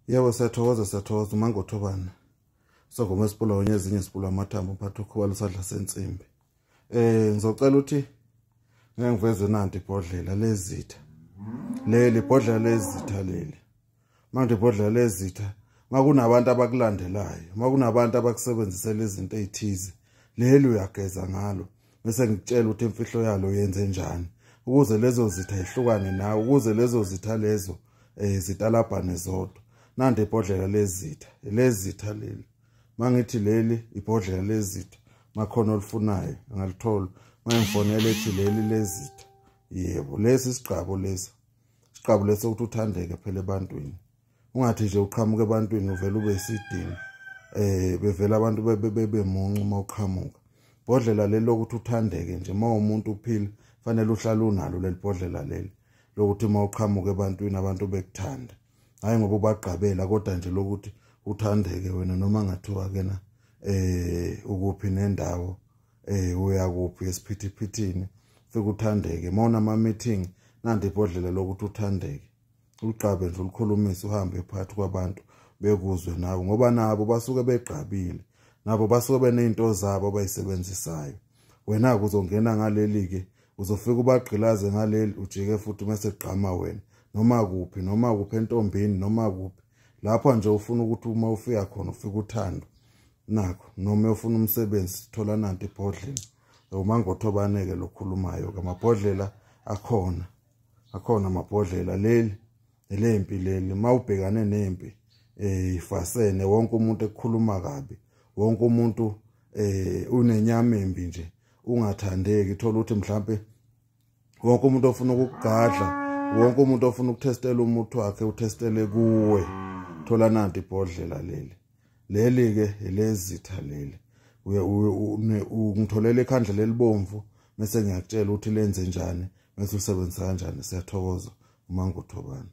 yebo siyathokoza siyathokoza umangothobana sogoma esipula onye ezinye sipula amathambo mphatha ukhuba lusadla sensimbi eh ngizocela ukuthi ngeke ngivezwe nanti ibhodlela lezitha leli ibhodlela lezitha leli manje ibhodlela lezitha makunabantu abakulandelayo makunabantu abakusebenzisela izinto ezithize leli uyageza ngalo bese ngikutshela ukuthi imfihlo yalo yenze njani ukuze lezo zitha ihlukane nawe ukuze lezo zitha lezo eh zitalabhane zodwa nande ibhodlela lezitha lezitha leli mangithi leli ibhodlela lezitha makhona olifunayo angalithola mayengifonela ethi leli lezitha yebo lesi sigqabo lesi sigqabo leso ukuthi uthandeke phela ebantwini ungathi nje uqhamuka ebantwini uvela ube isidini eh bevela abantu bebe muncu uma uqhamuka bodlela leli lokuthi uthandeke nje uma umuntu uphila fanele uhlale unalo leli bodlela leli lokuthi uma uqhamuka ebantwini abantu bekuthanda hayi ngoba ubagqabela kodwa nje lokuthi uthandeke wena noma ngathiwa ke na eh ukuphi nendawo eh uya kuphi esiphithiphithini fika uthandeke mawuna ama meeting nandi ibhodlela lokuthi uthandeke ulugqabe nje ulukhulumise uhambe phakathi kwabantu bekuzwe nawe ngoba nabo basuke begqabile nabo basuke benezinto zabo abayisebenzisayo wena kuzongena ngaleli ke uzofika ubagqilaze ngaleli ujike futhi mase gqama wena noma kuphi noma kuphi entombini noma kuphi lapho nje ufuna ukuthi uma ufika khona ufike uthando nakho noma ufuna umsebenzi thola nanti ibhodlela uma ngothobaneke lokhulumayo ke amabhodlela akhona akhona amabhodlela leli elempi leli mawubhekane nempi eh ifasene wonke umuntu ekhuluma kabi wonke umuntu eh unenyama embi nje ungathandeki thola ukuthi mhlambe wonke umuntu ofuna ukukugadla wonke umuntu ofuna ukutestela umuthi wakhe utestele kuwe thola nanti ibhodlela leli leli ke elezitha leli uye ungitholele ikhandla lelibomvu mese ngiyakutshela ukuthi lenze njani mese usebenzisa kanjani siyathokoza uma nguthobani